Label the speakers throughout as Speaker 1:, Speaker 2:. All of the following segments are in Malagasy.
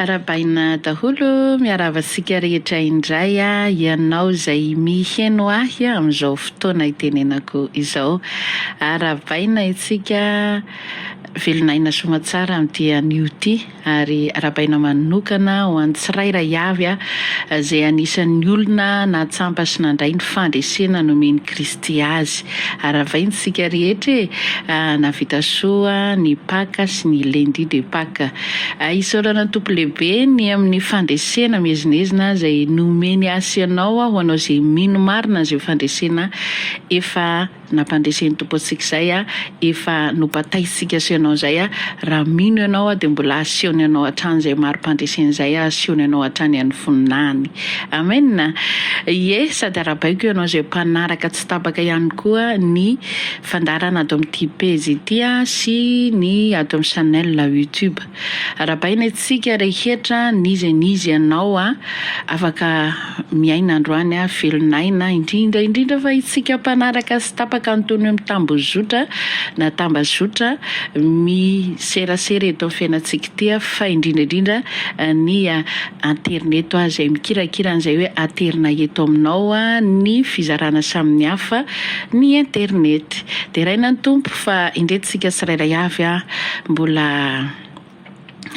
Speaker 1: Arahabaina daholo, miarahaba antsika rehetra indray ianao izay miheno ahy amin'izao fotoana itenenako izao. Arahabaina isika velon'aina soamantsara amin'ity anio ity. ary arabaina manokana ho an'ny tsirairay avy izay anisan'ny olona natsampa sy nandray ny fandresena nomen'i Kristy azy. Aravaina isika rehetra e! Nahavita soa ny Paka sy ny Lundi de Paka. Isaorana ny Tompo Lehibe ny amin'ny fandresena miezinezina izay nomeny ahy sy ianao ho anao izay mino marina an'izay fandresena efa Nampandresy an'i Tompo antsika izay aho, efa nobataisitsika asio anao izay aho, raha mino ianao aho dia mbola asehony anao hatrany izay marimpandreseny izay aho, asehony anao hatrany an'ny voninahiny. Amen! Ie, sady arabaiko ianao izay mpanaraka tsy tapaka ihany koa ny fandaharana ato amin'ity pejy ity sy ny ato amin'ny channel youtube. Arabaina itsika rehetra n'iza n'iza ianao a afaka miaina androany a velon'aina indrindra indrindra fa itsika mpanaraka sy tapaka antonio mitambozotra na tambazotra miserasera eto amin'ny fiainantsika ity a fa indrindra indrindra ny aterineto a izay mikirakira an'izay hoe aterina eto aminao a ny fizarana samin'ny hafa ny internety deraina ny tompo fa indreto tsika tsirairay avy a Mbola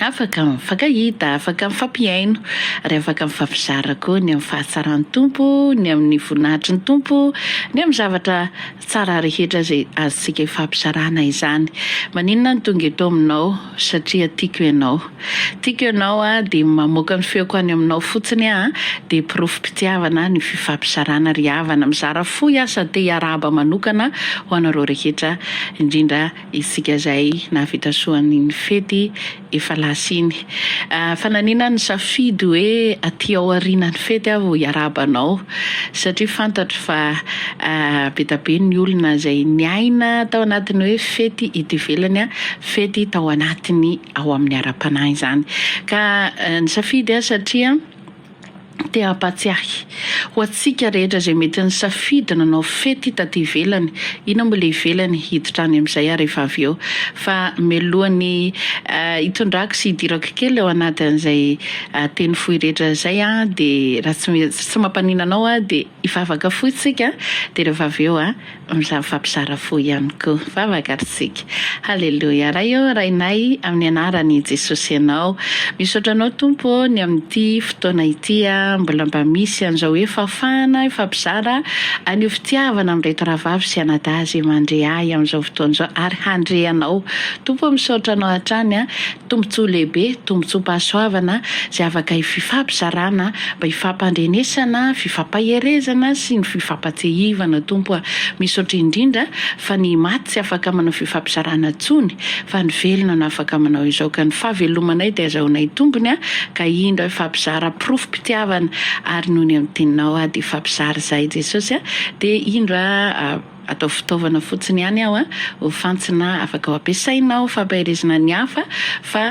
Speaker 1: afaka mifankahita, afaka mifampihaino, ary afaka mifampizara koa ny amin'ny fahatsaran'ny Tompo, ny amin'ny voninahitry ny Tompo, ny amin'ny zavatra tsara rehetra izay azontsika ifampizarana izany. Maninona no tonga eto aminao? Satria tiako ianao. Tiako ianao aho, dia mamoaka ny feoko any aminao fotsiny aho, dia porofom-pitiavana ny fifampizarana ry havana. Mizara fo aho sady te hiarahaba manokana ho anareo rehetra, indrindra isika izay nahavita soa an'iny fety efa lasa iny. Fa nanina nisafidy hoe aty aorianan'ny fety aho vao hiarahaba anao, satria fantatro fa be dia be ny olona izay niaina tao anatin'ny hoe fety eto ivelany, fety tao anatin'ny ao amin'ny ara-panahy izany. Ka nisafidy aho satria. Te hampahatsiahy ho antsika rehetra izay mety nisafidy nanao fety taty ivelany, inona moa ilay ivelany, hiditra any amin'izay aho rehefa avy eo. Fa mialohan'ny hitondrako sy hidirako kely ao anatin'izay teny fohy rehetra izay aho dia raha tsy tsy mampaninona anao aho dia. Hivavaka fo isika dia rehefa avy eo mifampizara fo ihany koa. Hivavaka ary isika. Haleloia. Ray ô, Rainay, amin'ny anaran'i Jesosy Ianao. Misaotra Anao Tompo ô ny amin'ity fotoana ity mbola mba misy an'izao hoe fahafahana hifampizara an'io fitiavana amin'ireto rahavavy sy anadahy izay mandre ahy amin'izao fotoana izao ary handre Anao. Tompo ô, misaotra Anao hatrany Tombontsoa lehibe, tombontsoam-pahasoavana izay afaka ififampizarana mba hifampandrenesana, fifampaherezana sy ny fifampatsiahivana Tompo a! Misaotra indrindra fa ny maty tsy afaka manao fifampizarana intsony fa ny velona no afaka manao izao ka ny fahavelomanay dia azahoanay tombony a! ka indro aho hifampizara porofom-pitiavana ary noho ny amin'ny Teninao aho dia hifampizara izahay Jesosy a! dia indro aho Ataovy fitaovana fotsiny ihany aho a, ho fantsona afaka ho ampiasainao fampaherezana ny hafa, fa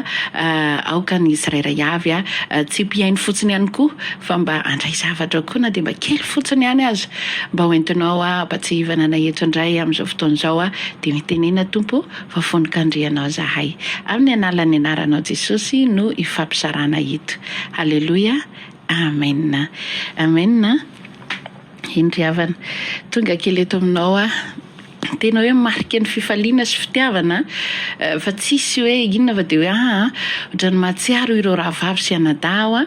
Speaker 1: aoka ny tsirairay avy a, tsy mpihaino fotsiny ihany koa, fa mba handray zavatra koa na dia mba kely fotsiny ihany aza, mba ho entinao ampatsiahivana anay eto indray amin'izao fotoana izao a, dia mitenena Tompo fa fonon-kandrianao izahay, amin'ny analan'ny anaranao Jesosy no ifampizarana eto. Haleloia. Amen. Amen. Indry havana. Tonga kely eto aminao aho. Tena hoe marika ny fifaliana sy fitiavana an. Fa tsisy hoe inona fa dia hoe aa. Ohatran'ny mahatsiaro ireo rahavavy sy anadahy aho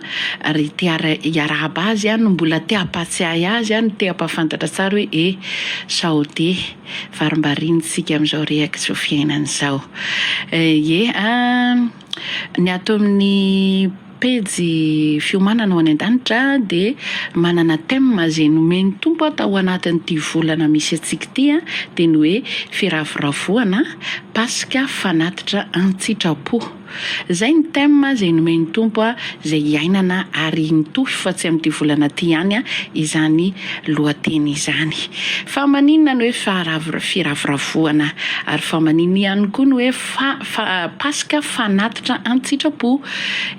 Speaker 1: ary te hiarahaba azy aho no mbola te hampahatsiahy azy aho no te hampahafantatra tsara hoe e. Sao dia. Varimbariana isika amin'izao rehaka izao fiainana izao. Ye a. Ny ato amin'ny. pejy fiomanana ho any an-danitra dia manana thème izay nomen'ny Tompo tao anatin'ity volana misy antsika ity dia ny hoe firavoravoana Paska fanatitra an-tsitrapo. Izay ny thème izay nomen'ny Tompo izay hiainana ary mitohy fa tsy amin'ity volana ity ihany izany lohateny izany. Fa maninona ny hoe firavoravoana ary fa maninona ihany koa ny hoe. Fa fa Paska fanatitra an-tsitrapo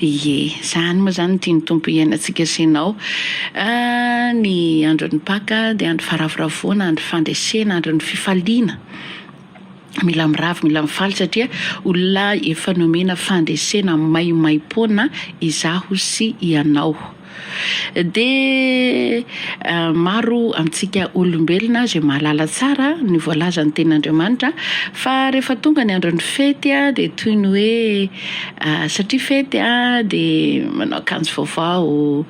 Speaker 1: ie. Zany moa zany tian'ny Tompo hiainantsika sy ianao. Ny andron'ny Paka dia andro faravoravoana, andro fandresena, andron'ny fifaliana. Mila miravo, mila mifaly satria olona efa nomena fandresena maimaimpoana izaho sy ianao. Dia maro amintsika olombelona izay mahalala tsara ny voalazan'ny Tenin'Andriamanitra fa rehefa tonga ny andron'ny fety dia toy ny hoe satria fety dia manao akanjo vaovao,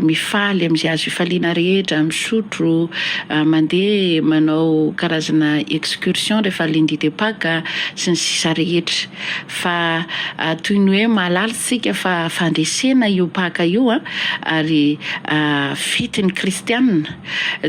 Speaker 1: mifaly amin'izay azo ifaliana rehetra, misotro, mandeha manao karazana excursion rehefa lundi de paque sy ny sisa rehetra. Fa toy ny hoe mahalala isika fa fandresena io Paka io ary fety ny kristianina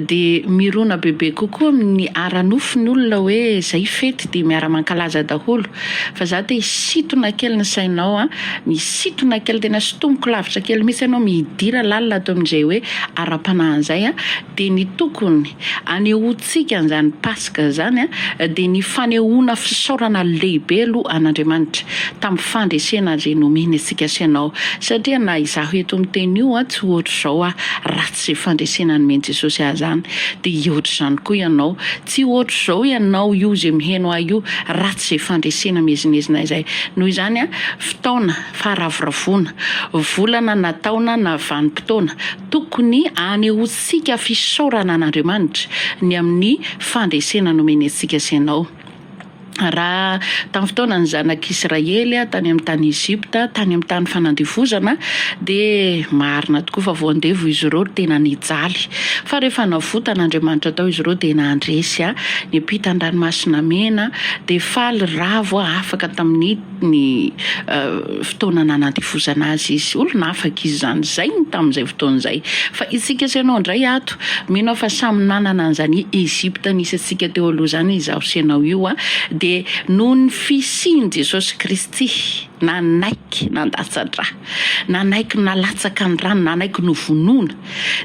Speaker 1: dia mirona bebe kokoa amin'ny ara-nofo ny olona hoe izay fety dia miara-mankalaza daholo. Fa za te hisintona kely ny sainao an, misintona kely tena sintomiko lavitra kely mihitsy ianao midira lalina ato amin'izay hoe ara-panahy izay an, dia ny tokony Anehoantsika an'izany Paska izany dia ny fanehoana fisaorana lehibe aloha an'Andriamanitra tamin'ny fandresena azy eny omeny antsika sy ianao, satria na izaho eto miteny io tsy hoatr'izao aho raha tsy fandresena nomen'i Jesosy ahy izany, dia hihoatr'izany koa ianao tsy hoatr'izao ianao io izay miheno ahy io raha tsy izay fandresena miezinezina izay, noho izany fotoana faharavoravoana, volana na taona na vanim-potoana tokony hanehoantsika. tsika fisaorana an'Andriamanitra ny amin'ny fandresena nomeny antsika sy anao. Raha tamin'ny fotoanan'ny zanak'Israely tany amin'ny tany Egypta, tany amin'ny tany fanandevozana, dia marina tokoa fa voandevo izy ireo, tena nijaly. Fa rehefa navotan'Andriamanitra tao izy ireo dia nandresy, niampita ny Ranomasina Mena, dia faly ravo afaka tamin'ny. ny fotoana nanandevozana azy izy. Olona afaka izy izany, izay ny tamin'izay fotoana izay. Fa isika sy ianao indray ato, mino aho fa samy nanana an'izany Egypta nisy antsika teo aloha izany izaho sy ianao io an! Dia noho ny fisian'i Jesosy Kristy, nanaiky nandatsa-dra, nanaiky nalatsaka ny rany, nanaiky novonoina,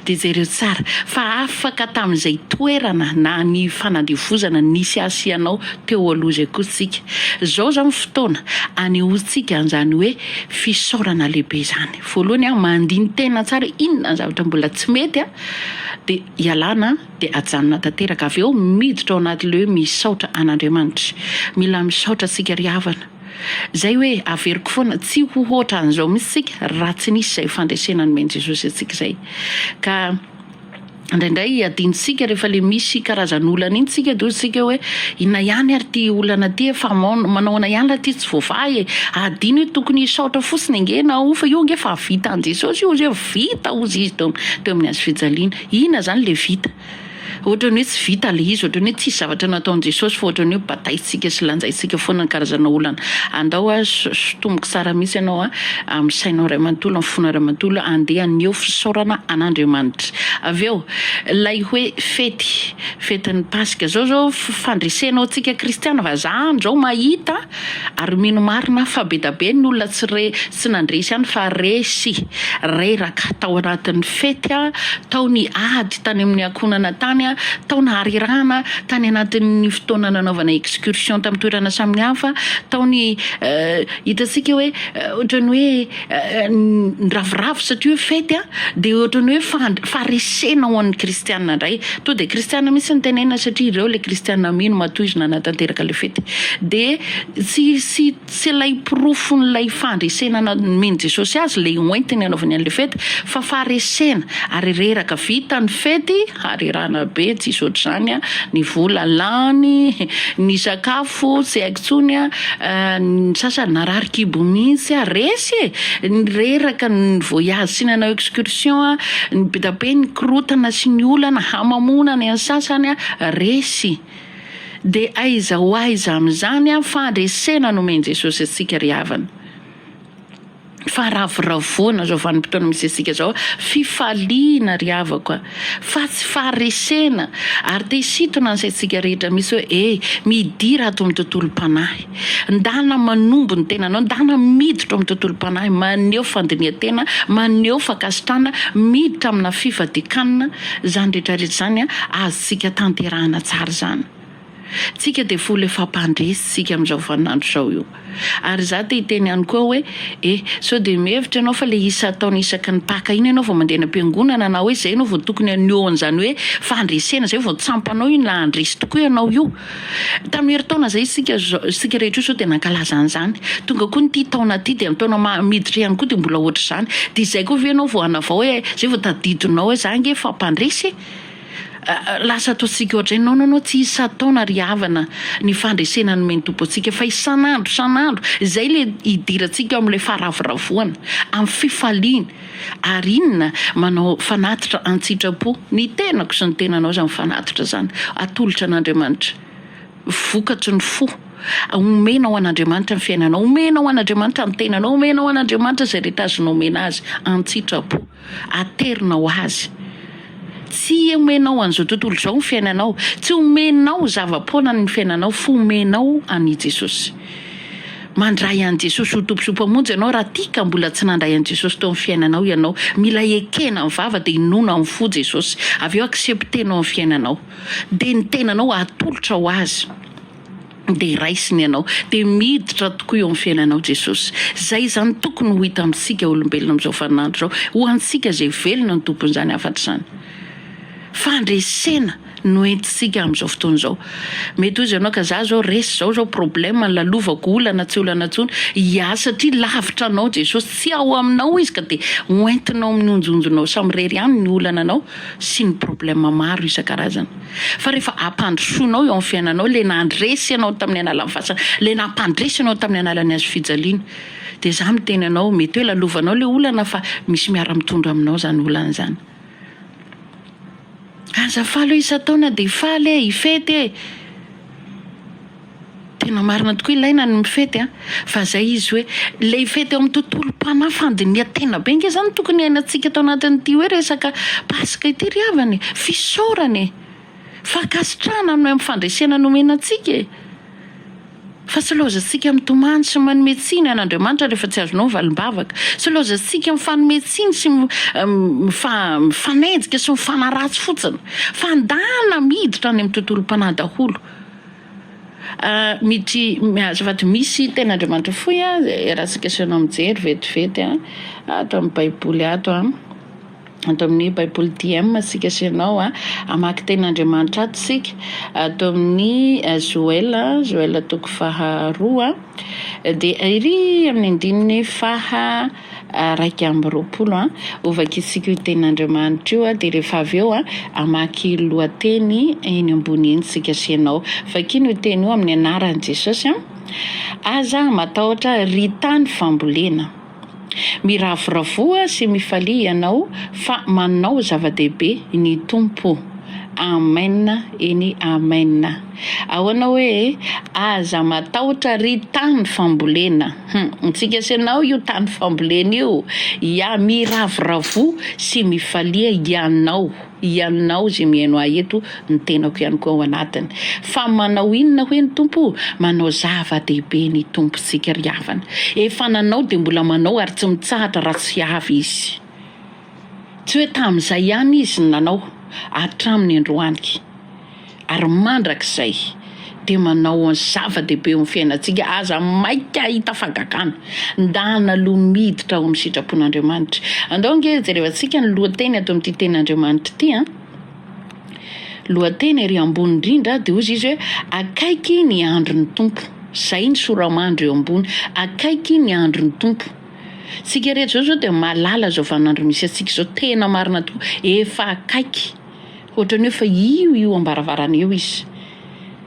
Speaker 1: Dia jereo tsara fa afaka tamin'izay toerana na ny fanandevozana nisy ahy sy ianao teo aloha izay kosa tsika. Izao izao ny fotoana anehoantsika an'izany hoe fisaorana lehibe izany. Voalohany, mandini-tena tsara hoe inona ny zavatra mbola tsy mety, dia ialana dia ajanona tanteraka. Avy eo miditra ao anatin'ilay hoe misaotra an'Andriamanitra. Mila misaotra antsika ry havana. Izay hoe averiko foana tsy ho hoatran'izao mihitsy isika raha tsy nisy izay fandresena nomen'i Jesosy antsika izay. Ka indraindray adinontsika rehefa ilay misy karazan'olana iny tsika dia hoy hoe inona ihany ary ity olana ity e, fa manahoana ihany raha ity tsy voavaha e, adino hoe tokony hisaotra fotsiny ange ianao fa io ange efa vita an'i Jesosy io, izay vita hozy izy teo amin'ny hazo fijaliana. Inona izany ilay vita? Ohatran'ny hoe tsy vita ilay izy, ohatran'ny hoe tsisy zavatra nataon'i Jesosy fa ohatran'ny hoe badaintsika sy lanjaintsika foana ny karazana olana. Andao hoa sotomiko tsara mihitsy ianao amin'ny sainao iray manontolo, amin'ny fonao iray manontolo, andeha haneho fisaorana an'Andriamanitra. Avy eo, ilay hoe fety, fetin'ny Paska, izao izao fandresena ho antsika kristiana, vazaha any izao mahita, Ary mino marina aho fa bedabe ny olona tsy re tsy nandresy ihany fa re sy reraka tao anatin'ny fety a, tao ny ady tany amin'ny ankohonana tany a, tao naharirahana tany anatin'ny fotoana nanaovana excursion tamin'ny toerana samihafa, tao ny hitantsika hoe ohatran'ny hoe ny ravoravo satria hoe fety a dia ohatran'ny hoe fand- faharesena ho an'ny kristiana indray to dia kristiana mihitsy ny tenenina satria ireo ilay kristiana mino matoa izy nanatanteraka ilay fety dia tsy tsy tsy ilay porofon'ilay fandresena na- nomen'i Jesosy azy ilay hoentiny anaovany an'ilay fety fa faharesena ary reraka vita ny fety Harerahana be tsy hisy ohatr'izany a, ny vola lany, ny sakafo tsy haiko intsony a, ny sasany narary kibo mihitsy a, resy e, ny reraka, ny voyage tsy nanao excursion a, ny be dia be ny korotana sy ny olana hamamoana ny an'ny sasany a, resy. De aiza ho aiza amin'izany a, fandresena nomen'i Jesosy antsika ry havana. fa ravoravoana zao vanim-potoana misy antsika zao, fifaliana ry havako a! fa tsy faharesena, ary te hisintona ny saintsika rehetra mihitsy hoe e! midira ato amin'ny tontolom-panahy, ndana manombo ny tenanao, ndana miditra ao amin'ny tontolom-panahy, maneho fandinihan-tena, maneho fankasitrahana, miditra amina fifadian-kanina, izany rehetra rehetra izany azontsika tanterahana tsara izany. Tsika dia folo efa mpandresy tsika amin'izao vaninandro izao io. Ary izaho te hiteny ihany koa hoe, eh, sao dia mihevitra ianao fa ilay isa ataony isaky ny Paka iny ianao vao mandeha any am-piangonana na hoe izay ianao vao tokony haneho an'izany hoe fandresena izay vao tsampanao iny raha handresy tokoa ianao io. Tamin'ny herintaona izay isika isika rehetra io sao dia nankalaza an'izany. Tonga koa ity taona ity dia ny taona maha miditra ihany koa dia mbola ohatr'izany. Dia izay koa ve ianao vao hanavao hoe izay vao tadidinao hoe izaho ange efa mpandresy e! Lasa ataontsika ohatray non non non tsy isan-taona ry havana ny fandresena nomen'ny Tompo antsika fa isan'andro isan'andro izay ilay hidirantsika ao amin'ilay faharavoravoana amin'ny fifaliany ary inona manao fanatitra an-tsitrapo ny tenako sy ny tenanao izany fanatitra izany atolotra an'Andriamanitra vokatry ny fo omenao an'Andriamanitra ny fiainanao omenao an'Andriamanitra ny tenanao omenao an'Andriamanitra izay rehetra azonao omena azy an-tsitrapo Aterina ho Azy. Tsy omenao an'izao tontolo izao ny fiainanao, tsy omenao zava-poana ny fiainanao fa omenao an'i Jesosy. Mandray an'i Jesosy ho Tompo sy Mpamonjy ianao raha tia ka mbola tsy nandray an'i Jesosy teo amin'ny fiainanao ianao. Mila ekena amin'ny vava dia inoana amin'ny fo Jesosy. Avy eo accepter-nao ny fiainanao. Dia ny tenanao atolotra ho Azy. dia raisiny ianao, dia miditra tokoa eo amin'ny fiainanao Jesosy. Izay izany tokony ho hita amintsika olombelona amin'izao vaninandro izao, ho antsika izay velona ny tompon'izany hafatra izany. Fandresena no entintsika amin'izao fotoana izao. Mety ho izy ianao ka za izao resy izao izao problème lalovako olana tsy olana intsony, ya satria lavitra anao Jesosy, tsy ao aminao izy ka dia ho entinao amin'ny onjonjonao samirery ihany ny olananao sy ny problème maro isan-karazany. Fa rehefa ampandrosoinao eo amin'ny fiainanao ilay nandresy anao tamin'ny analan'ny fasana, ilay nampandresy anao tamin'ny analan'ny hazo fijaliana, dia izaho miteny anao, mety hoe lalovanao ilay olana fa misy miara-mitondra aminao izany olana izany. Aza faly hoe isan-taona dia faly e, hifety e! Tena marina tokoa ilaina ny mifety a! Fa zay izy hoe le hifety eo amin'ny tontolom-panahy fandinihan-tena be nge zany tokony hiainantsika tao anatin'ity hoe resaka paska ity ry havana e! Fisaorana e! Fankasitrahana ny amin'ny fandresena nomena antsika e! Fa tsy laozantsika mitomany sy manome tsiny an' Andriamanitra rehefa tsy azonao ny valim-bavaka. Tsy laozantsika mifanome tsiny sy mifanenjika sy mifanaratsy fotsiny. Fa ndana miditra any amin'ny tontolom-panahy daholo. Miditry azafady misy tena Andriamanitra fohy a raha tsika asainao mijery vetivety a ato amin'ny baiboly ato a ato amin'ny baiboly TM tsika asainao a hamaky teny Andriamanitra ato tsika ato amin'ny Joela Joela toko faharoa dia ery amin'ny andininy faha iraika amby roapolo an, ho vakisiko io tenin'Andriamanitra io an, dia rehefa avy eo an, hamaky lohateny eny ambony eny isika sy ianao. Vakino io teny io amin'ny anaran'i Jesosy an, Aza matahotra ry tany fambolena. Miravoravoa sy mifalia ianao fa manao zava-dehibe ny Tompo. Amen eny Amen. Ahoana hoe aza matahotra ry tany fambolena hum antsika sy anao io tany fambolena io ya miravoravoa sy mifalia ianao ianao zay mihaino ahy eto ny tenako ihany koa ao anatiny fa manao inona hoe ny tompo manao zava-dehibe ny tompontsika ry havana efa nanao dia mbola manao ary tsy mitsahatra raha tsy avy izy Tsy hoe tamin'izay ihany izy no nanao, hatramin'ny androany ary mandrakizay dia manao ny zava-dehibe eo amin'ny fiainantsika, aza maika hahita fagagana, ndana aloha miditra ao amin'ny sitrapon'Andriamanitra. Andao ange jerevantsika ny lohateny ato amin'ity tenin'Andriamanitra ity an, lohateny ery ambony indrindra dia hozy izy hoe akaiky ny andron'ny Tompo, zay ny sora-mandry eo ambony, akaiky ny andron'ny Tompo. Tsika rehetra zao zao dia mahalala zao vaninandro misy antsika zao tena marina tokoa efa akaiky hoatrany hoe fa io io ambaravarana eo izy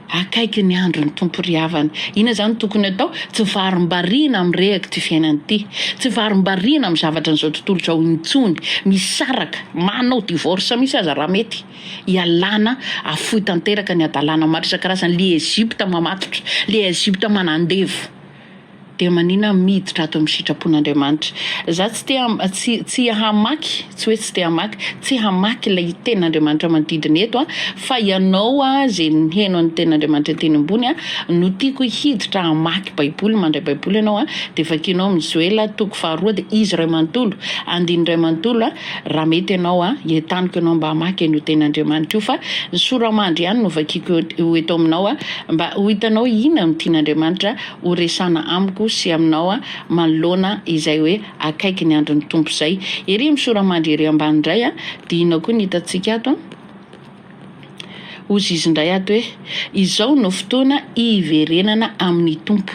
Speaker 1: akaiky ny andro ny tompo ry havana ina zany tokony atao tsy varimbariana am rehak ty fiainana ty tsy varimbariana am zavatra nizao tontolo zao intsony misaraka manao divorce misy aza raha mety ialana afoy tanteraka ny adalana maro isan-karazany le Egypte mamatotra le Egypte manandevo Dia maninona miditra ato amin'ny sitrapon'Andriamanitra? Za tsy te tsy hamaky, tsy hoe tsy te hamaky, tsy hamaky ilay tenin'Andriamanitra manodidina eto an, fa ianao an ze miheno an'ny tenin'Andriamanitra teny ambony an no tiako hiditra hamaky baiboly, mandray baiboly ianao an, dia vakianao amin'ny Joela toko faharoa dia izy iray manontolo, andininy iray manontolo an, Raha mety ianao an, entaniko ianao mba hamaky an'io tenin'Andriamanitra io, fa ny soramandry ihany no vakiako eo eto aminao an, mba ho hitanao inona no tian'Andriamanitra ho resana amiko sy aminao an, manoloana izay hoe akaiky ny andron'ny Tompo izay. Ery ny soramandry ery ambany indray an, dihina koa ny hitantsika ato an. Hozy izy indray ato hoe, Izao no fotoana hiverenana amin'ny Tompo.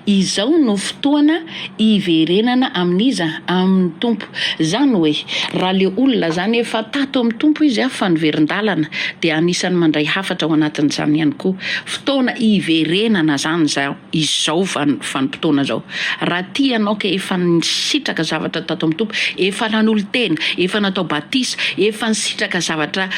Speaker 1: Izao no fotoana hiverenana amin'iza? Amin'ny Tompo. Izany hoe, raha ilay olona izany efa tato amin'ny Tompo izy fa niverin-dalana, dia anisan'ny mandray hafatra ao anatin'izany ihany koa. Fotoana hiverenana izany izao. izao vanim-potoana izao. Raha tia ianao ka efa nisitraka zavatra tato amin'ny Tompo, efa nanolo-tena, efa natao batisa, efa nisitraka zavatra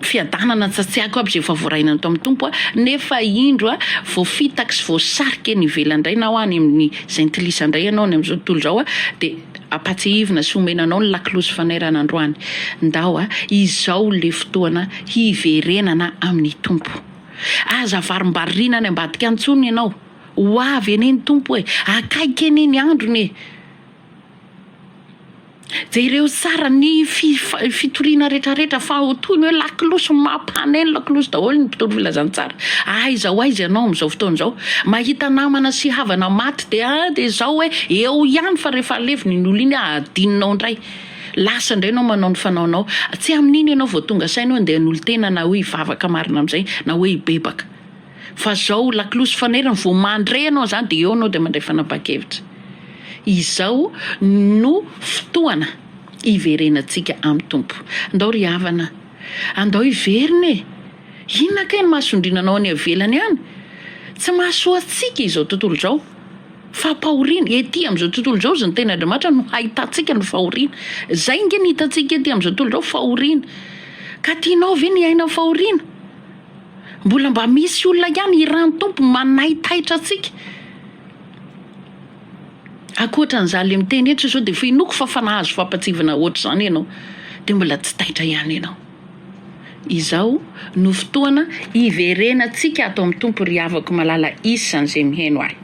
Speaker 1: fiadanana tsy tsy haiko aby izay efa voarainao tao amin'ny Tompo aho, nefa indro vao fitaky sy voasarika eny ivelany indray na any amin'ny jentilisa indray ianao any amin'izao tontolo izao dia ampatsiahivina sy omena anao ny lakolosy fanairana androany. Ndao a! Izao ilay fotoana hiverenana amin'ny Tompo. Aza avarimbarina any ambadika any intsony ianao. Ho avy anie ny Tompo e! Akaiky anie ny androny e! Jereo tsara ny fitoriana retraretra fa toy ny hoe lakolosy mampana eny lakolosy daholo ny mpitory filazantsara. Aiza ho aiza ianao amin'izao fotoana izao? Mahita namana sy havana maty dia dia izao hoe eo ihany fa rehefa aleviny ny olona iny adinonao indray. Lasa indray ianao manao ny fanaonao. Tsy amin'iny ianao vao tonga saina hoe handeha hanolo-tena na hoe hivavaka marina amin'izay na hoe hibebaka. Fa izao lakolosy fanairana, vao mandre ianao an'izany dia eo ianao dia mandray fanapahan-kevitra. Izao no fotoana hiverenantsika amin'ny Tompo. Andao ry havana, andao hiverina e! Inona kay ny mahasondriana anao any avelany any? Tsy mahasoa antsika izao tontolo izao. Fampahoriana, ety amin'izao tontolo izao izy ny tenin'Andriamanitra no hahitantsika ny fahoriana. Izay ange ny hitantsika ety amin'izao tontolo izao, fahoriana. Ka tianao ve ny hiaina fahoriana? Mbola mba misy olona ihany hiran'ny Tompo manaitaitra antsika. Ankoatra an'izaho le miteny eto izao dia f'inoako fa fa nahazo fampatsievana ohatr'izany ianao dia mbola tsy taitra ihany ianao. Izao no fotoana hiverenantsika ato amin'ny Tompo ry havako malala isan'izay miheno ahy.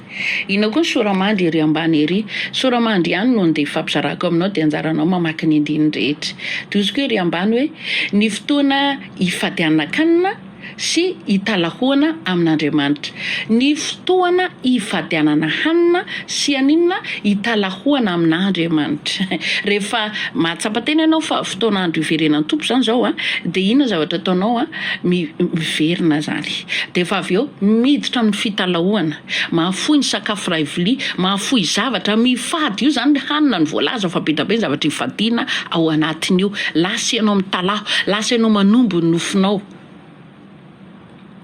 Speaker 1: Inona koa ny soramandry ery ambany ery? Soramandry ihany no andeha hifampizarako aminao dia anjaranao mamaky ny andininy rehetra. Dioziko ery ambany hoe, ny fotoana hifadianankanina, sy hitalahoana amin'Andriamanitra. Ny fotoana hifadianana hanina sy haninona hitalahoana amin'Andriamanitra. Rehefa mahatsapa tena ianao fa fotoana andro hiverenan'ny Tompo izany izao an, dia inona zavatra ataonao an, miverina izany. Dia efa avy eo miditra amin'ny fitalahoana. Mahafoy ny sakafo iray vilia, mahafoy zavatra, mifady io zany hanina no voalaza fa be dia be ny zavatra hifadiana ao anatin'io, lasa ianao mitalaho, lasa ianao manombo ny nofinao,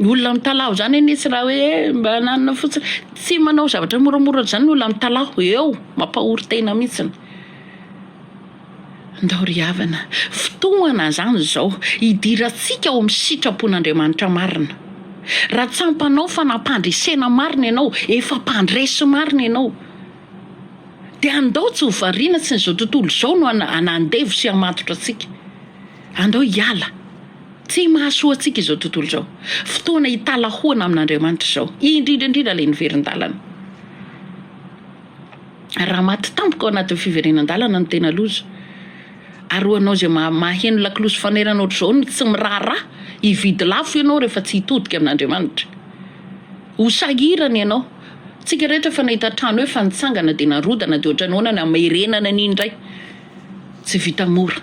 Speaker 1: ny olona mitalaho zany anie tsy raha hoe mba nanana fotsiny, tsy manao zavatra moramora zany ny olona mitalaho, eo mampahory tena mihitsiny. Ndao ry havana, fotoana izany izao hidirantsika ao amin'ny sitrapon'Andriamanitra marina. Raha tsampanao fa nampandresena marina ianao, efa mpandresy marina ianao, dia andao tsy ho variana, tsy izao tontolo izao no handevo sy hamatotra antsika. Andao hiala, tsy mahasoa antsika izao tontolo izao. Fotoana hitalahoana amin'Andriamanitra izao, indrindra indrindra ilay niverin-dalana. Raha maty tampoka ao anatin'ny fiverenan-dalana no tena loza. Ary ho anao izay maha maheno lakolosy fanairana ohatr'izao no tsy miraharaha hividy lafo ianao rehefa tsy hitodika amin'Andriamanitra. Ho sahirana ianao. Tsika rehetra efa nahita trano efa nitsangana dia narodana dia ohatrany ahoana ny hamerenana an'iny indray. Tsy vita mora.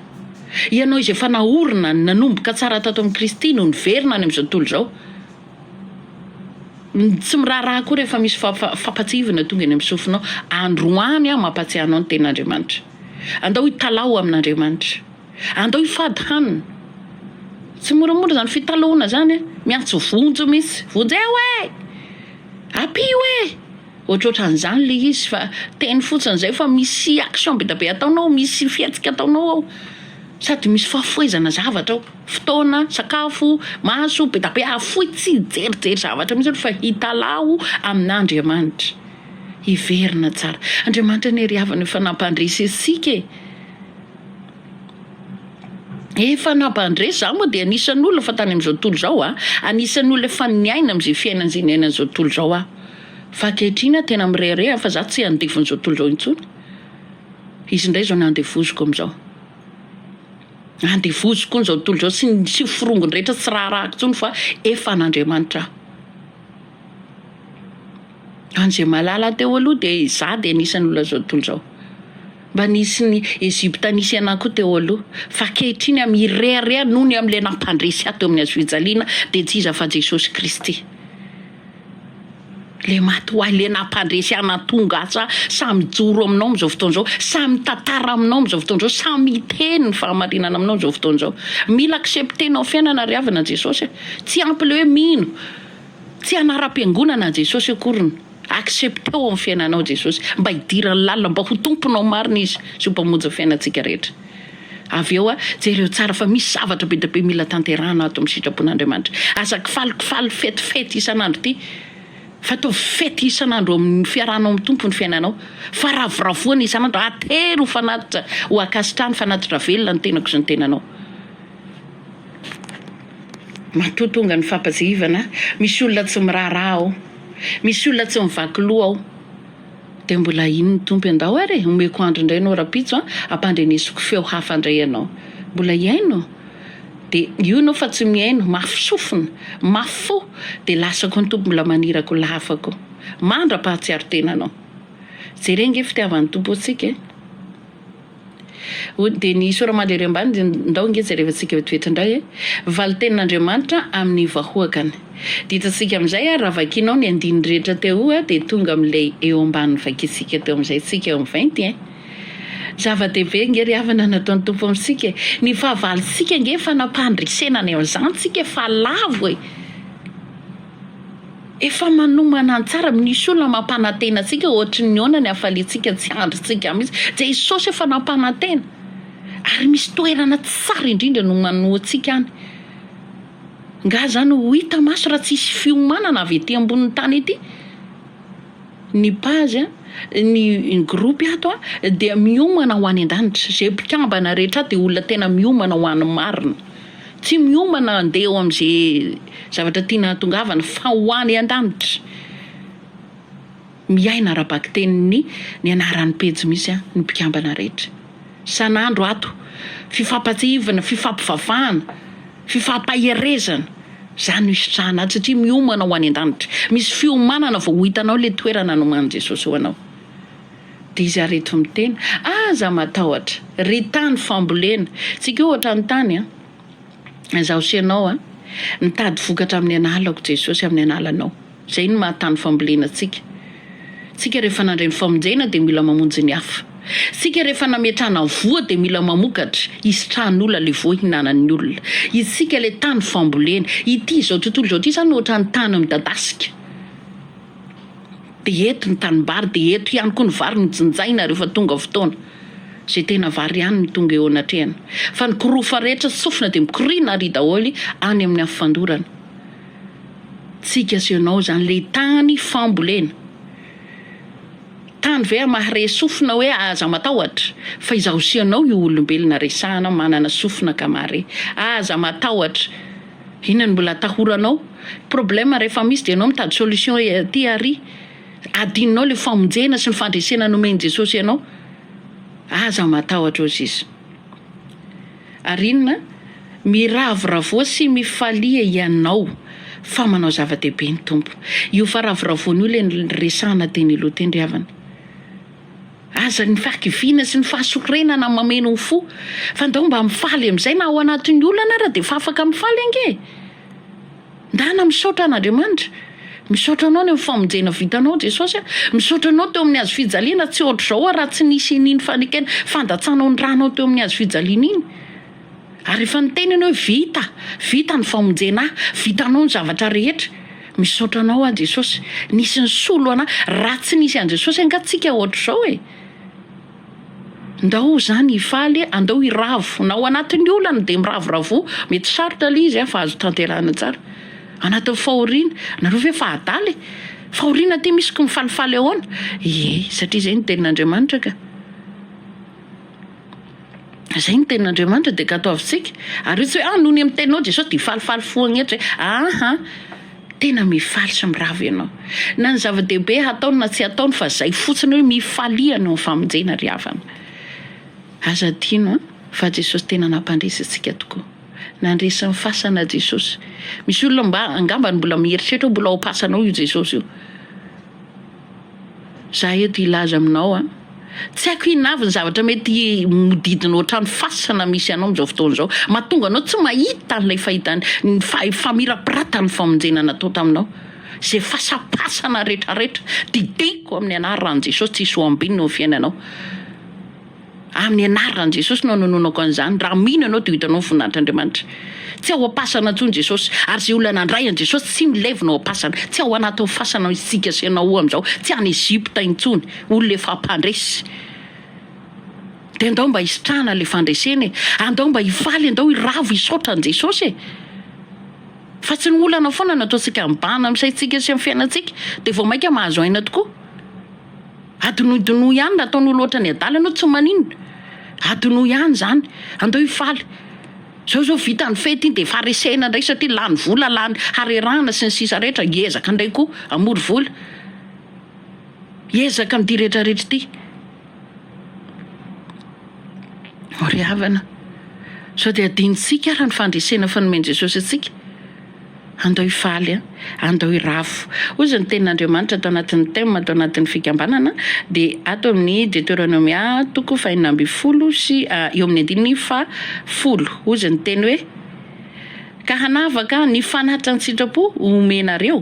Speaker 1: Ianao izay efa naorina, nanomboka tsara tato amin'i Kristy no niverina any amin'izao tontolo izao, Tsy miraharaha koa rehefa misy fampatsiahivana tonga eny amin'ny sofinao. Androany aho mampatsiahy anao ny tenin'Andriamanitra. Andao hitalaho amin'Andriamanitra. Andao hifady hanina. Tsy moramora izany fitalahoana izany an! Miantso vonjy mihitsy, vonjeo e! Ampio e! Ohatrohatran'izany le izy fa teny fotsiny izay fa misy action be dia be ataonao ao, misy fihetsika ataonao ao, sady misy fahafoizana zavatra ao, fotoana, sakafo, maso, be dia be ahafoy tsy hijerijery zavatra mihitsy aloha fa hitalaho amin'Andriamanitra, hiverina tsara. Andriamanitra anie ry havana efa nampandresy antsika e! Efa nampandre za moa dia anisan'ny olona fa tany am'zao tontolo zao a, anisan'ny olona efa niaina am'ze fiainana ze niainan'ny zao tontolo zao aho, fa ankehitriny aho tena mirehareha fa za tsy andefon'zao tontolo zao intsony, izy ndray zao no andevoziko am'zao, andevoziko an'zao tontolo zao sy ny sy forongony rehetra tsy raharahako intsony fa efa an'Andriamanitra aho. An'ze mahalala ahy teo aloha de za de anisan'ny olona zao tontolo zao. Mba nisy ny Egyptanisia ihany koa teo aloha, fa ankehitriny amin'ny hirehareha noho ny amin'ilay nampandresy ahy teo amin'ny hazofijaliana, dia tsy iza fa Jesosy Kristy, ilay maty ho ahy, ilay nampandresy ahy nahatonga ahy sahy sahy mijoro aminao amin'izao fotoana izao, sahy mitantara aminao amin'izao fotoana izao, sahy miteny ny fahamarinana aminao amin'izao fotoana izao. Mila accepter-nao amin'ny fiainana ry havana Jesosy e! Tsy ampy ilay hoe mino, tsy hanara-piangonana Jesosy akoriny. Accepteo ny fiainanao Jesosy mba hidiran'ny lalina mba ho tomponao marina Izy sy ho mpamonjy ny fiainantsika rehetra. Avy eo jereo tsara fa misy zavatra be dia be mila tanterahana ato amin'ny sitrapon'Andriamanitra. Aza kifalikifaly fetifety isan'andro ity fa ataovy fety isan'andro eo amin'ny fiarahanao amin'ny Tompo ny fiainanao fa ravoravoana isan'andro atery ho fanatitra ho ankasitrahany fanatitra velona ny tenako sy ny tenanao. Matoa tonga ny fampatsiahivana misy olona tsy miraharaha ao. Misy olona tsy mivaky loha ao. Dia mbola ino ny Tompo Endao ary e, omeko andro indray ianao rahampitso an, hampandrenesiko feo hafa indray ianao. Mbola hihaino? Dia io ianao fa tsy mihaino, mafy sofina, mafy fo, dia lasa koa ny Tompo mbola maniraka olona hafa koa. Mandra-pahatsiaro tena anao. Jereo ange fitiavan'ny Tompo antsika e. Hoy Denis Soramandry ery ambany, ndao nge jerevantsika eo toetra indray e! Valin-tenin'Andriamanitra amin'ny vahoakany. Ditantsika amin'izay ary raha vakianao ny andininy rehetra teo oa dia tonga amin'ilay eo ambany vakintsika teo amin'izay tsika eo amin'ny vainty e! Zava-dehibe nge ry havana nataon'ny Tompo amintsika e! Ny fahavalontsika nge fanapahndresena any amin'izany tsika fa lavo e! Efa manomana ny tsara, misy olona mampanantena antsika ohatry ny ahoana ny hafaliantsika tsy andrintsika mihitsy. Jesosy efa nampanantena ary misy toerana tsara indrindra nomanoantsika any. Nga zany ho hita maso raha tsisy fiomanana avy ety ambonin'ny tany ety? Ny page, ny groupe ato dia miomana ho any an-danitra, izay mpikambana rehetra ato dia olona tena miomana ho an'ny marina, tsy miomana handeha eo amin'izay zavatra tiana hahatongavana fa ho any an-danitra, miaina ara-bakitenin'ny ny anaran'ny pejy misy ny mpikambana rehetra. isan'andro ato, fifampantsihivana, fifampivavahana, fifampaherezana, izany no hisitrahana ato satria miomana ho any an-danitra, misy fiomanana vao ho hitanao ilay toerana nomanin'i Jesosy ho anao. Dia izy ary eto miteny, Aza matahotra, ry tany fambolena, tsika io ohatran'ny tany an, izaho sy ianao an, mitady vokatra amin'ny analako Jesosy amin'ny analanao. Izay no maha tany fambolena antsika. Isika rehefa nandray ny famonjena dia mila mamonjy ny hafa. Isika rehefa nametrahana voa dia mila mamokatra, hisitrahan'olona ilay voa hinanan'ny olona. Isika ilay tany fambolena. Ity izao tontolo izao ity izany ohatran'ny tany midadasika. Dia eto ny tanimbary, dia eto ihany koa ny vary no jinjaina rehefa tonga fotoana. Izay tena vary ihany no tonga eo anatrehana. Fa ny kirofa rehetra sy sofina dia mikoriana àry daholo any amin'ny afo fandorana. Tsiky asehonao izany le tany fambolena. Tany ve a mahare sofina hoe aza matahotra fa izaho sy ianao io olombelona resahana manana sofina ka mahare. Aza matahotra. Inona no mbola atahoranao? Problème rehefa misy dia ianao mitady solution aty ary. Adinonao le famonjena sy ny fandresena nomen'i Jesosy anao. Aza matahotra ô sis. Ary inona? Miravoravoa sy mifalia hianao fa manao zava-dehibe ny Tompo. Io faravoravoana io ilay niresahana teny aloha teny ry havana. Aza ny fahakiviana sy ny fahasorenana mameno ny fo, fa ndao mba mifaly amin'izay na ao anatin'ny olana ara dia efa afaka mifaly ange e! Ndana misaotra an'Andriamanitra, misaotra anao ny amin'ny famonjena vitanao Jesosy a, misaotra anao teo amin'ny hazo fijaliana tsy ohatr'izao aho raha tsy nisy an'iny fanekena fandatsanao ny ranao teo amin'ny hazo fijaliana iny, ary efa niteny ianao hoe vita, vita ny famonjena ahy, vitanao ny zavatra rehetra, misaotra anao aho Jesosy, nisy nisolo anahy, raha tsy nisy an'i Jesosy angaha tsika ohatr'izao e. Ndao zany hifaly e, andao hiravo, na ao anatin'ny olana dia miravoravo, mety sarotra le izy fa azo tanterahina tsara, anatin'ny fahoriana, nareo ve efa adala e, fahoriana ty misy ko mifalifaly ahoana, ie satria zay no tenin'Andriamanitra ka, zay no tenin'Andriamanitra dia katoavintsika, ary io tsy hoe, ah nony amin'ny teninao Jesosy dia hifalifaly foagna eto zay, aa. Tena mifaly sy miravo ianao. Na ny zava-dehibe hataony na tsy hataony fa zay fotsiny hoe mifalia anao ny famonjena ry havana. Aza adino an, fa Jesosy tena nampandresy antsika tokoa. Nandresy ny fasana Jesosy. Misy olona mba angambany mbola mieritreritra hoe mbola ao am-pasanao io Jesosy io. Za eto hilaza aminao an. Tsy haiko inona avy ny zavatra mety hodidinao hatrany fasana misy anao amin'izao fotoana izao, mahatonga anao tsy mahita an'ilay fahitany ny faha- famirapiratan'ny famonjena natao taminao. Izay fasapasana retraretra, didiko amin'ny anaran'i Jesosy, tsy hisy ho ambinina ao amin'ny fiainanao. Amin'ny anaran'i Jesosy no anononako an'izany, raha mino ianao dia ho hitanao ny voninahitr'Andriamanitra. Tsy ao am-pasana intsony Jesosy, ary izay olona nandray an'i Jesosy tsy milevina ao am-pasana, tsy ao anatin'ny fasana misy isika sy ianao amin'izao, tsy any Egypta intsony, olona efa mpandresy. Dia andao mba hisitrahana ilay fandresena e! Andao mba hifaly, andao hiravo hisaotra an'i Jesosy e! Fa tsy ny olana foana no ataontsika mibahana amin'ny saintsika sy amin'ny fiainantsika dia vao mainka mahazo aina tokoa. Adinodonoy ihany raha ataonao loatra ny adala ianao tsy maninona. Adinoy ihany zany. Andao hifaly. Zao zao vita ny fety iny dia faharesena indray satria lany vola lany harerahana sy ny sisa rehetra hiezaka indray koa hamory vola. Hiezaka amin'ity rehetra rehetra ity. Ho ry havana. Sao dia adinontsika ary ny fandresena fanomen'i Jesosy antsika. Andao hifaly a! Andao hiravo! Hoy izao ny tenin'Andriamanitra ato anatin'ny Thème ato anatin'ny fikambanana dia ato amin'ny Deteronomia toko fahenina ambin'ny folo sy eo amin'ny andininy fahafolo. Hoy izao ny teny hoe, Ka hanavaka ny fanatitra an-tsitrapo ho omenareo,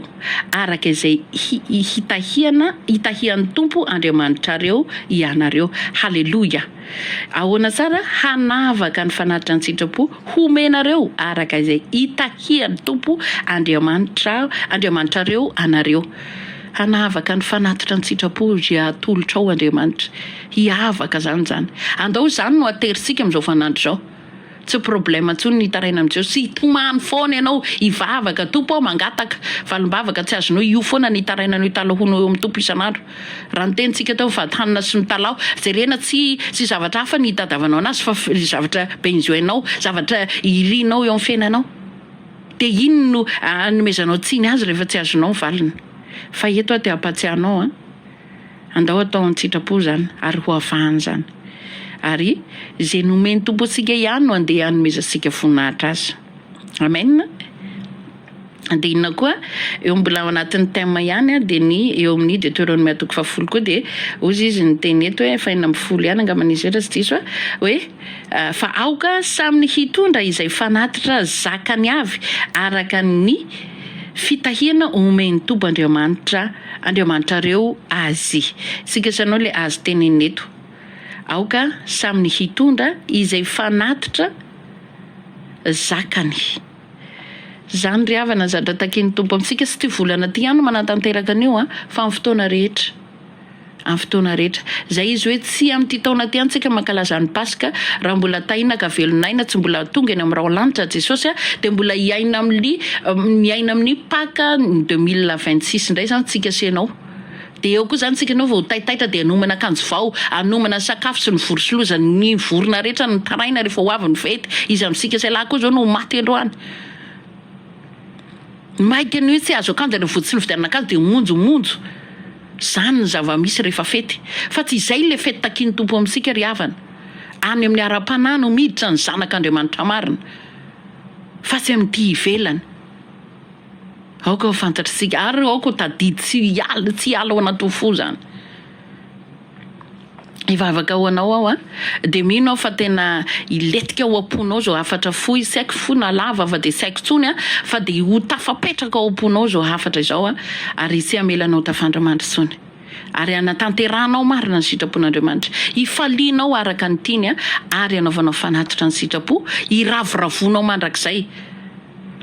Speaker 1: araka izay hitahiana hitahian'ny Tompo Andriamanitrareo ianareo. Haleloia! Ahoana tsara hanavaka ny fanatitra an-tsitrapo homenareo araka izay itahian'ny Tompo Andriamanitra Andriamanitrareo anareo. Hanavaka ny fanatitra an-tsitrapo izay atolotrao Andriamanitra. Hiavaka izany izany. Andao izany no aterintsika amin'izao fanandro izao. Tsy problème intsony ny hitaraina amin'i Jeso, hitomany foana ianao, hivavaka, Tompo aho mangataka, valim-bavaka tsy azonao, io foana ny hitaraina anao hitalahonao eo amin'ny Tompo isan'andro. Raha ny tenintsika teo ny vady hanina sy ny talaho, jerena tsy tsy zavatra hafa ny hitadavanao anazy fa zavatra benjoinao, zavatra irinao eo amin'ny fiainanao. Dia iny no anomezanao tsiny azy rehefa tsy azonao ny valiny. Fa eto aho te hampatsiahy anao an! Andao atao an-tsitrapo izany ary ho avahana izany. Ary izay nomen'ny Tompo antsika ihany no andeha hanomezantsika voninahitra Azy. Amen. Dia inona koa, eo mbola ao anatin'ny thème ihany an, dia ny eo amin'ny Deteronomia toko fahafolo koa dia ozy izy niteny eto hoe fahenina ambin'ny folo ihany angamba ny izay raha tsy diso aho, hoe fa aoka samy ny hitondra izay fanatitra zakany avy araka ny Fitahiana omen'i Toba Andriamanitra Andriamanitrareo azy. Isika izany no ilay azo tenenina eto. Aoka samy ny hitondra izay fanatitra zakany. Izany ry havana, ny zatra takian'ny Tompo amintsika sy ity volana ity ihany no manatanteraka an'io an, fa amin'ny fotoana rehetra. Amin'ny fotoana rehetra. Izay izy hoe tsy amin'ity taona ity antsika mankalaza ny Paska, raha mbola tahiana ka velon'aina, tsy mbola tonga eny amin'ny raolanitra Jesosy a, dia mbola hiaina amin'ny miaina amin'ny Paka ny deux mille vingt six indray izany tsika sy ianao. Dia eo koa izany tsika ianao vao ho taitaitra dia hanomana akanjo vao, hanomana ny sakafo sy ny vorosolozan' ny vorona rehetra nitaraina rehefa ho avy ny fety, iza amintsika sy ialahy koa izao no ho maty androany? Maika ny hoe tsy azo akanjo any votsin'ny fividianana akanjo dia monjo monjo zany ny zavamisy rehefa fety fa tsy izay ilay fety takian'ny Tompo amintsika ry havana any amin'ny ara-panahy no miditra ny zanak' Andriamanitra marina fa tsy amin'ity ivelany aoka ho fantatr'isika ary aoka ho tadidy tsy hiala tsy hiala ao anatin'ny fo zany Hivavaka ho anao aho a. Dia mino aho fa tena hilentika ao am-ponao izao hafatra fohy, tsy haiko fohy na lava fa dia tsy haiko intsony a, fa dia ho tafapetraka ao am-ponao izao hafatra izao a, ary tsy hamela anao tafandramandry intsony. Ary hanatanterahanao marina ny sitrapon'Andriamanitra. Hifalianao araka ny tiany a, ary hanaovanao fanatitra ny sitrapo, hiravoravoanao mandrakizay.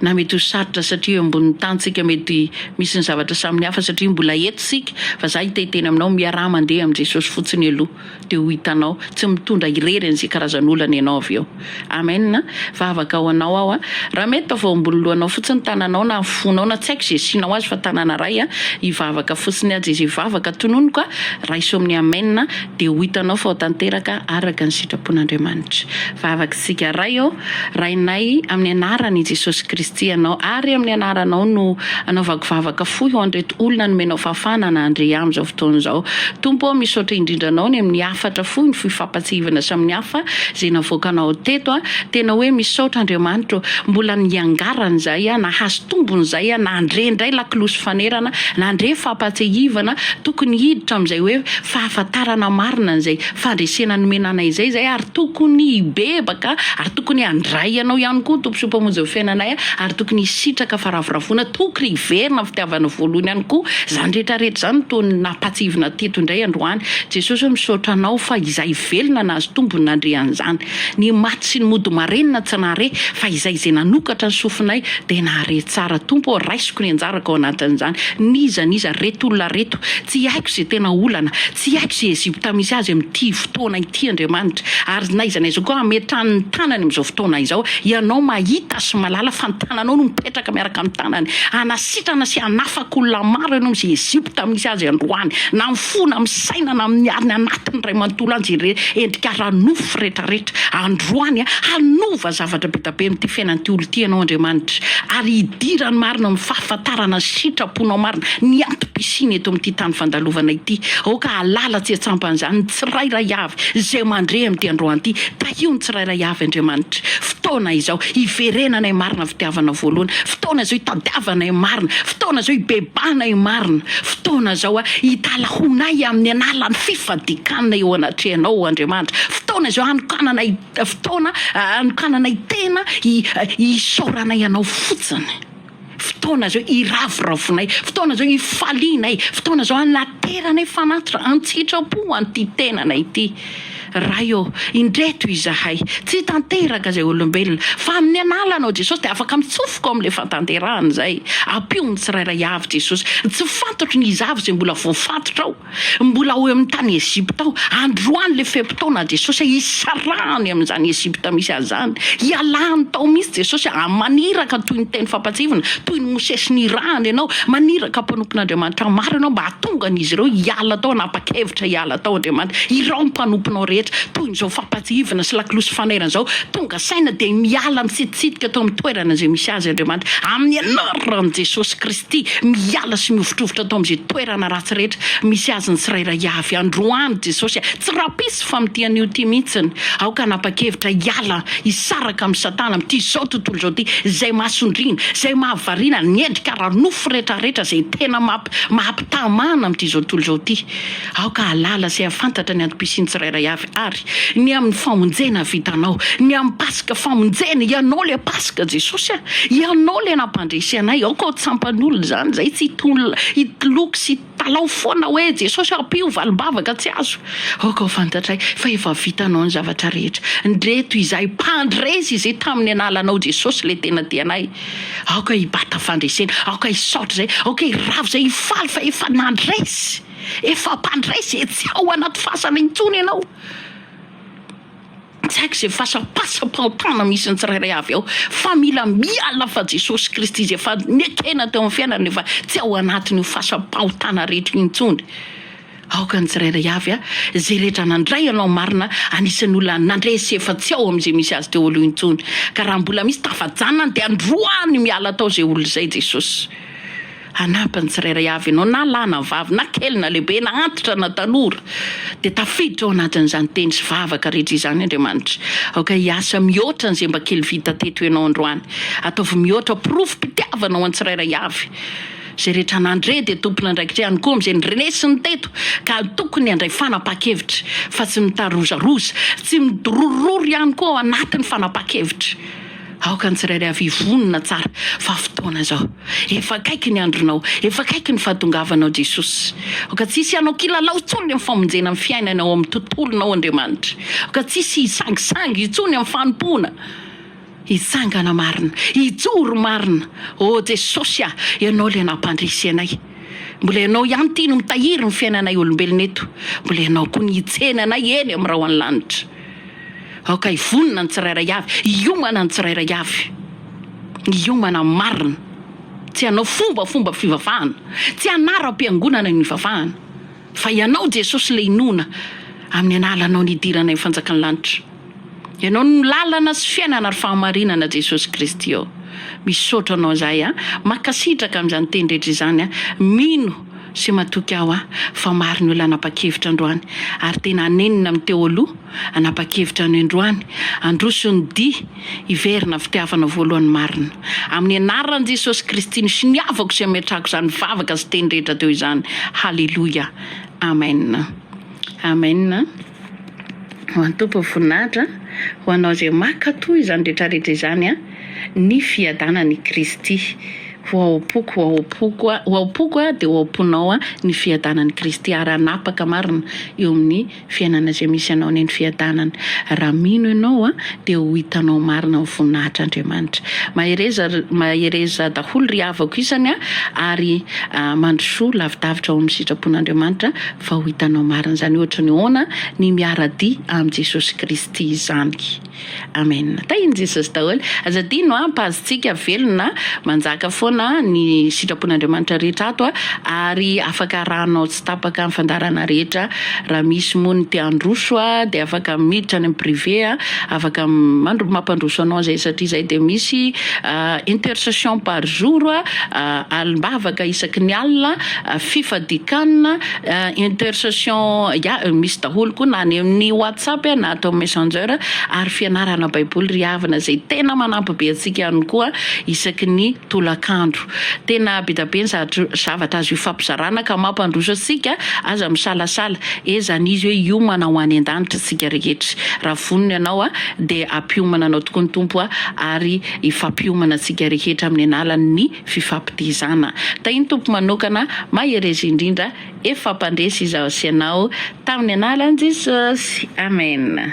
Speaker 1: na mety ho sarotra satria eo ambonin'ny tany tsika mety misy ny zavatra saminy hafa satria mbola eto tsika fa za hitay tena aminao miaraha mandeha amin'i Jesosy fotsiny aloha dia ho hitanao tsy mitondra irery an'izay karazan'olana ianao avy eo Amen vavaka ho anao aho raha mety taovao ambony lohanao fotsiny tananao na fonao na tsy haiko izay asianao azy fa tanana iray hivavaka fotsiny aja izay vavaka tononiko a raiso amin'ny Amen dia ho hitanao fa ho tanteraka araka ny sitrapon'Andriamanitra vavaka isika iray ô Rainay, amin'ny anaran' i Jesosy Kristy ianao, ary amin'ny anaranao no anaovako vavaka fohy ho an'ireto olona nomenao fahafahana hanahandre amin'izao fotoana izao. Tompo ô, misaotra indrindra Anao ny amin'ny hafatra fohy, ny fohy fampatsiahivana samy hafa izay navoakanao teto a. Tena hoe misaotra Andriamanitra ô, mbola niangarana izahay a, nahazo tombony izahay a, nandre indray lakilosy fanerana, nandre fampatsiahivana, tokony hiditra amin'izay hoe fahafantarana marina an'izay. fandresena nomena anay izay izay ary tokony hibebaka ary tokony handray anao ihany koa tomposoa mpamonjy ny fiainanay a ary tokony hisitraka faravoravoana tokony hiverina ny fitiavana voalohany ihany koa izany rehetra rehetra izany no toa nampahatsiahivina teto indray androany Jesosy hoe misaotra anao fa izay velona nahazo tombony nandre an'izany ny maty sy ny mody marenina tsy nahare fa izay izay nanokatra ny sofinay dia nahare tsara Tompo ô raisiko ny anjarako ao anatin'izany n'iza n'iza reto olona reto tsy haiko izay tena olana Tsy haiko izay Egypta misy azy amin'ity fotoana ity Andriamanitra, ary na iza na iza koa hametrany ny tanany amin'izao fotoana izao, Ianao mahita sy mahalala fa ny tananao no mipetraka miaraka amin'ny tanany, hanasitrana sy hanafaka olona maro Ianao amin'izay Egypta misy azy androany, na amin'ny fo na amin'ny saina na amin'ny ariny anatiny Ray manontolo any izay endrika ara-nofo rehetrarehetra androany, hanova zavatra be dia be amin'ity fiainan'ity olona ity Ianao Andriamanitra, ary hidiran'ny marina amin'ny fahafantarana ny sitraponao marina, ny antom-pisianao. Tsiny eto amin'ity tany fandalovana ity. Aoka halala tsy an-tsampan'izany ny tsirairay avy izay mandre amin'ity androany ity. Tahio ny tsirairay avy, Andriamanitra. Fotoana izao hiverenanay marina ny fitiavana voalohany. Fotoana izao hitadiavanay marina. Fotoana izao hibebanay marina. Fotoana izao hitalahoanay amin'ny an'alan'ny fifadikanay eo anatrehanao, Andriamanitra. Fotoana izao hanokananay fotoana, hanokananay tena hi, hisaoranay anao fotsiny. Fotoana izao hiraviravinay, fotoana izao hifalianay, fotoana izao hanateranay fanatitra, an-tsitrapo ho an'ity tenana ity. Ray ô, indreto izahay, tsy hitanteraka izay olombelona, fa amin'ny analanao Jesosy dia afaka mitsofoka ao amin'ilay fatanterahana izay. Ampio ny tsirairay avy Jesosy, ny tsy fantatro ny iza avy izay mbola voafatotra ao. Mbola ao amin'ny tany Egypta ao, androany le fe-potoana Jesosy hisarahany amin'izany Egypta misy azy zany, hialany tao mihitsy Jesosy a, maniraka toy ny teny fampatsiahivina, toy ny Mosesy nirahany ianao, maniraka mpanompon'Andriamanitra maro ianao mba hatonga an'izy ireo hiala tao, hanapa-kevitra hiala tao Andriamanitra, irao mpanomponao rehetra toy ny zao fampatsiahivina sy lakolosy fanairana zao, tonga saina dia miala mitsitositika tao amin'ny toerana izay misy azy Andriamanitra, amin'ny anaran'i Jesosy Kristy. Ty, miala sy mihovitrovitra ato amin'izay toerana ratsy rehetra misy azy ny tsirairay avy. Androany Jesosy a! Tsy rapisy fa mitia an'io ty mihitsiny. Aoka hanapa-kevitra hiala, hisaraka amin'i Satana amin'ity izao tontolo izao ity, izay mahasondriana, izay mahavariana, ny endrika ara-nofo rehetra rehetra izay tena maha-mpitamana amin'ity izao tontolo izao ity. Aoka hahalala sy hahafantatra ny antom-pisian'ny tsirairay avy ary ny amin'ny famonjena havitanao, ny amin'ny Paska famonjena, Ianao ilay Paska Jesosy a! Ianao ilay nampandresy anay, aoka ho tsampan'olona izany izay tsy hitoloko sy hitalaho foana hoe Jesosy a! ampio valim-bavaka tsy azo, aoka ho fantatray fa efa vitanao ny zavatra rehetra, ndreto izahay mpandresy izay tamin'ny analanao Jesosy ilay tena tianay, aoka hibata fandresena, aoka hisaotra izay, aoka hiravo izay, hifaly fa efa nandresy. Efa mpandray ze tsy ao anaty fasana intsony ianao. Tsy haiko ze fasana pasam-pahotana misy ny tsirairay avy ao fa mila miala fa Jesosy Kristy ze efa nekena teo amin'ny fiainany efa tsy ao anatin'io fasam-pahotana rehetra io intsony. Aoka ny tsirairay avy a, ze rehetra nandray anao marina anisan'ny olona nandresy efa tsy ao amin'ze misy azy teo aloha intsony. Ka raha mbola misy tafajanona any de androany miala tao ze olona zay Jesosy. Hanampy ny tsirairay avy ianao, na lahy na vavy, na kely na lehibe, na antitra na tanora. Dia tafiditra ao anatin'izany teny sy vavaka rehetra izany Andriamanitra. Aoka hiasa mihoatra an'izay mba kely vita teto ianao androany. Ataovy mihoatra porofom-pitiavana ho an'ny tsirairay avy. Izay rehetra nandre dia tompon'andraikitra ihany koa amin'izay noresiny teto, ka tokony handray fanapahan-kevitra, fa tsy mitarozaroza, tsy midorororo ihany koa ao anatin'ny fanapahan-kevitra. Aoka ny tsirairay avy hivonona tsara fa fotoana izao. Efa akaiky ny andronao, efa akaiky ny fahatongavanao Jesosy. Aoka tsy hisy hanao kilalao intsony amin'ny famonjena ny fiainana ao amin'ny tontolonao Andriamanitra. Aoka tsy hisy hisangisangy intsony amin'ny fanompoana. Hitsangana marina, hijoro marina. Ô Jesosy a, Ianao ilay nampandresy anay. Mbola Ianao ihany ity no mitahiry ny fiainanay olombelona eto. Mbola Ianao koa no hitsena anay eny amin'ny rahona lanitra. Aoka hivonona ny tsirairay avy, hiomana ny tsirairay avy. Ny hiomana marina, tsy hanao fombafomba fivavahana, tsy hanaram-piangonana ny hivavahana, fa Ianao Jesosy ilay inoana amin'ny analanao nidirana ny fanjakan'ny lanitra. Ianao no lalana sy fiainana ary fahamarinana Jesosy Kristy ô. Misaotra Anao izahay an. Mankasitraka amin'izany teny rehetra izany an. Mino. sy matoky aho aho fa maro ny olona hanapa-kevitra androany ary tena hanenina amin'ny teo aloha hanapa-kevitra anio androany handroso ny dihy hiverina fitiavana voalohany marina amin'ny anaran'i Jesosy Kristy no soniavako sy ametrahako izany vavaka sy teny rehetra teo izany haleloia amen amen Ho an'ny Tompo ny voninahitra, ho anao izay maka toa izany rehetrarehetra izany an, ny fiadanan' i Kristy ho ao am-poko, ho ao am-poko, ho ao am-poko dia ho ao am-ponao an, ny fiadanan' i Kristy ary hanapaka marina eo amin'ny fiainana izay misy anao ny fiadanany. Raha mino ianao an, dia ho hitanao marina ny voninahitr' Andriamanitra. Mahereza, mahereza daholo ry havako isany an, ary mandrosoa lavidavitra ao amin'ny sitrapon' Andriamanitra. Vao hitanao marina izany ohatry ny hoana ny miara-dia amin'i Jesosy Kristy izany. Amen. Tahin'i Jesosy daholo. Aza adino an, Pazitsika velona, manjaka foana ny sitrapon'Andriamanitra rehetra ato a, ary afaka arahanao tsy tapaka ny fandaharana rehetra, raha misy moa ny te handroso a, dia afaka miditra any amin'ny privé a, afaka mandro, mampandroso anao izay, satria izay dia misy intercession par jour a, alim-bavaka isaky ny alina, fifadikanana intercession ya misy daholo koa na any amin'ny WhatsApp na ato amin'ny messenger ary fianarana baiboly ry havana izay tena manampy be antsika ihany koa isaky ny tolakandro tena be dia be ny zavatra azo ifampizarana ka mampandroso antsika aza misalasala ezany izy hoe hiomana ho any an-danitra antsika rehetra raha vonona ianao a dia ampiomana anao tokoa ny tompo a ary ifampiomana antsika rehetra amin'ny analan'ny fifampidihizana. Tahin'ny Tompo manokana mahereza indrindra ef fampandresy izaho sy ianao tamin'ny anaran'i Jesosy. Amen.